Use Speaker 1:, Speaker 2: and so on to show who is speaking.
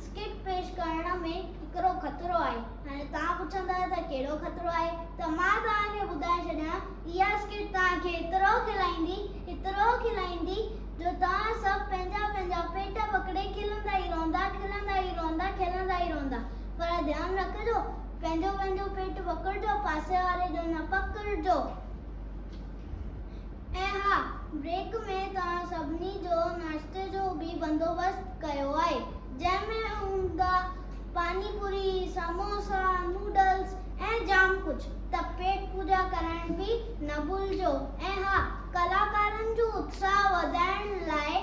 Speaker 1: Script پيش ڪرڻ ۾ هڪڙو خطرو آهي. هاڻي توهان پڇندا ته ڪهڙو خطرو آهي ته مان توهان کي ٻڌائي ڇڏيان. اها اسڪرپٽ توهان کي ايترو کلائيندي، ايترو کلائيندي جو توهان سڀ پنهنجا پنهنجا پيٽ پڪڙي کلندا ئي رهندا، کلندا ئي رهندا، کلندا ئي رهندا. پر ڌيان رکجو پنهنجو پنهنجو پيٽ پڪڙجو، پاسي واري جو نه پڪڙجو. ۽ ها، بريڪ ۾ توهان سڀني جو ناشتي جو به بندوبست ڪيو آهي، جنهن ۾ هوندا، پاني پوري، سموسا، نوڊلز ۽ جام ڪجهه، ته پيٽ پوڄا ڪرڻ به نه ڀلجو ۽ ها، ڪلاڪارن جو اتساهه وڌائڻ لاء.